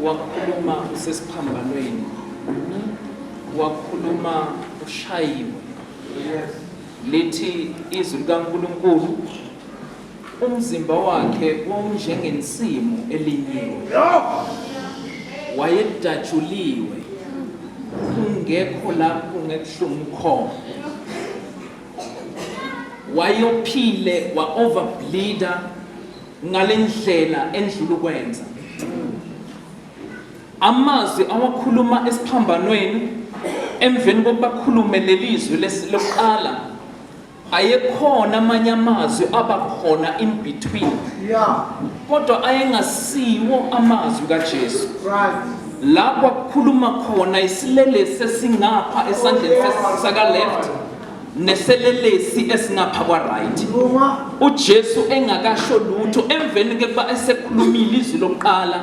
wakhuluma usesiphambanweni wakhuluma ushayiwe lithi izwi likaNkulunkulu umzimba wakhe wawunjengensimu elinyiwe wayedatshuliwe kungekho lapho ngekuhlungu khona wayophile wa-overbleeder ngale ndlela endlula ukwenza amazwi awakhuluma esiphambanweni emveni kokuba khulume leli zwi lokuqala ayekhona amanye amazwi aba khona in between kodwa ayengasiwo amazwi kaJesu lapho akukhuluma khona isilelesi esingapha esandleni saka left neselelesi esingapha kwa-right ujesu engakasho lutho emveni kekuba esekhulumile izwi lokuqala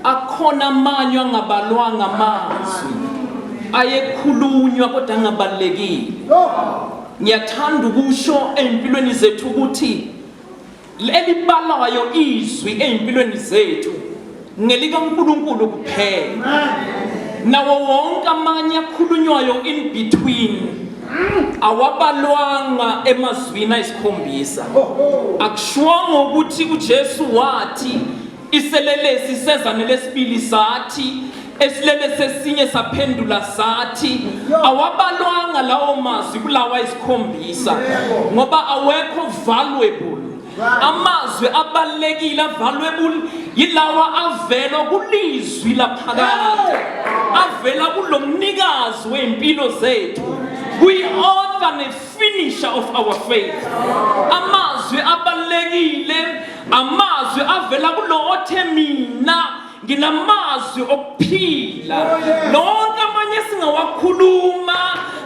akhona amanywa angabalwanga amazwi ayekhulunywa kodwa angabalulekile ngiyathanda ukusho ey'mpilweni zethu ukuthi Elibalayo izwi ezimpilweni zethu ngelikaNkulunkulu kuphela. Nawo wonke amanye akhulunywayo in between awabalwanga emazwini ayisikhombisa. Akushwanga ukuthi uJesu wathi iselelesi sezane lesibili sathi esilele sesinye saphendula sathi awabalwanga lawo mazwi kulawa isikhombisa ngoba awekho valuable amazwi abalekile avaluable yilawa avela kulizwi laphakade avela kulomnikazi weimpilo zethu we author ne finisher of our faith amazwi abalekile amazwi avela kulo othe mina nginamazwi okuphila nonke amanye singawakhuluma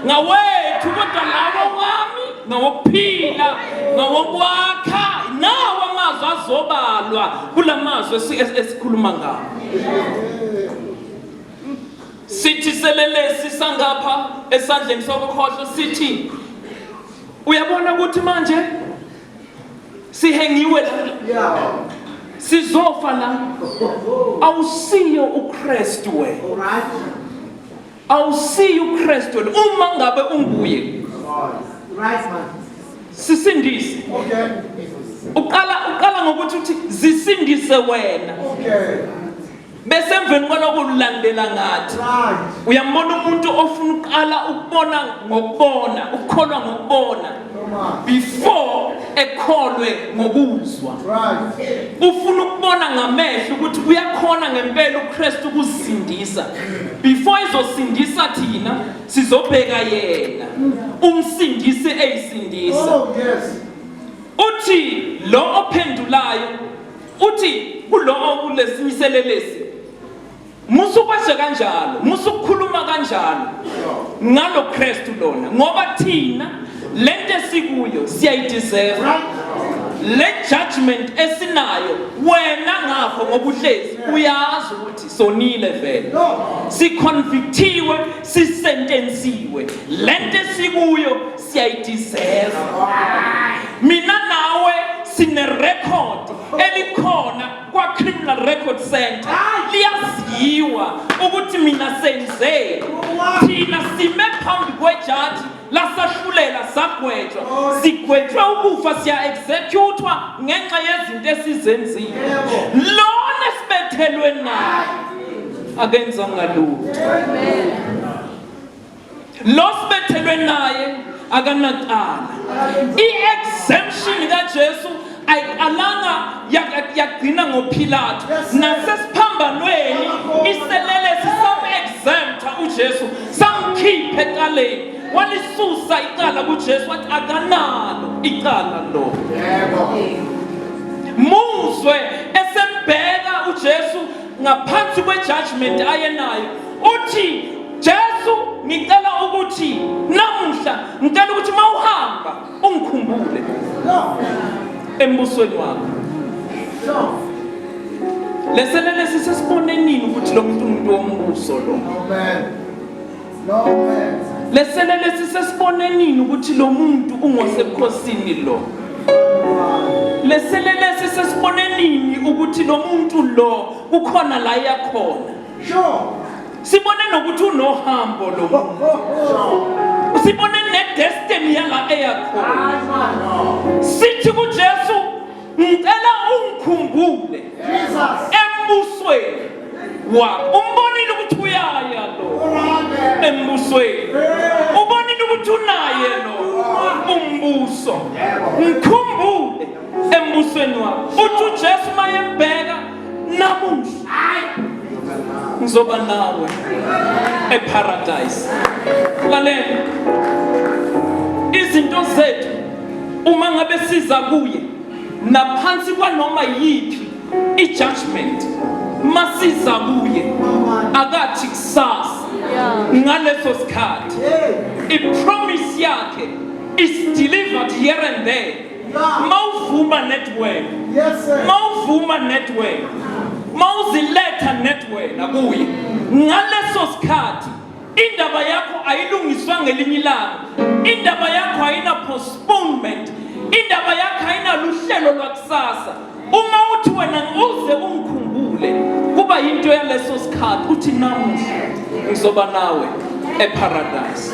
ngawethu kodwa lawo wami ngawokuphila ngawokwakha nawo amazwi azobalwa kula mazwi esikhuluma ngawo sithi selelesi sangapha esandleni sokukhohlo sithi uyabona ukuthi manje sihengiwe la sizofa la awusiyo uKristu wena awusiyo uKristu wena uma ngabe unguye right man sisindise okay uqala uqala ngokuthi uthi zisindise wena okay bese emveni kwaloko ulandela ngathi uyambona umuntu ofuna uqala ukubona ngokubona ukukholwa ngokubona before ekholwe ngokuzwa ufuna ukubona ngamehlo ukuthi uyakhona ngempela uKristu ukusindisa before izosindisa thina sizobheka yena umsindisi eyisindisa oh, uthi lo ophendulayo Uthi kulowo kulesimiselelesi musukweshe kanjalo musukukhuluma kanjalo ngalo Kristu lona ngoba thina lento esikuyo siyayideserve le judgment esinayo wena ngakho ngobuhlezi uyazi ukuthi sonile vele siconvictiwe sisentensiwe lento esikuyo siyayideserve mina nawe sine record elikhona kwa criminal record center liyaziwa ukuthi mina senze thina sime phambi kwejaji lasahlulela sagwetshwa sigwetshwe ukufa siya executewa ngenxa yezinto esizenzile lona sibethelwe naye akenzanga lutho lo sibethelwe naye akanacala i-exemption kajesu ayiqalanga yagcina ngophilathu nasesiphambanweni iselelesi sam-exempta ujesu samkhipha ecaleni walisusa icala kujesu wathi akanalo icala lo muzwe esembheka ujesu ngaphansi kwejudgment ayenayo uthi Jesu ngicela ukuthi namuhla ngicela ukuthi mawuhamba ungikhumbule embusweni wakho leselele sisesibonenini ukuthi lo muntu umuntu wombuso lo amen lesele lesi sesibonenini ukuthi lo muntu ungosebukhosini lo lesele lesi sesibonenini ukuthi lo muntu lo kukhona la yakhona sibone nokuthi unohambo lo sibone nedestiny yala eyakhona sithi kujesu ngicela ungikhumbule embusweni wakho umbonile ukuthi uyaya lo embusweni ubonile ukuthi unaye lo umbuso ngikhumbule embusweni wakho uthi ujesu mayembheka namuhla ngizoba nawe eparadise lalela izinto zethu uma ngabe siza kuye naphansi kwanoma yiphi i-judgment masiza kuye akathi kusasa ngaleso sikhathi i-promise yakhe is delivered here and there mawuvuma network mawuvuma network mawuziletha network nakuye ngaleso sikhathi indaba yakho ayilungiswa ngelinye ilanga indaba yakho ayina postponement indaba yakho ayinaluhlelo lwakusasa uma uthi wena uze ungikhumbule kuba yinto yaleso sikhathi uthi namuhla ngizoba nawe eparadise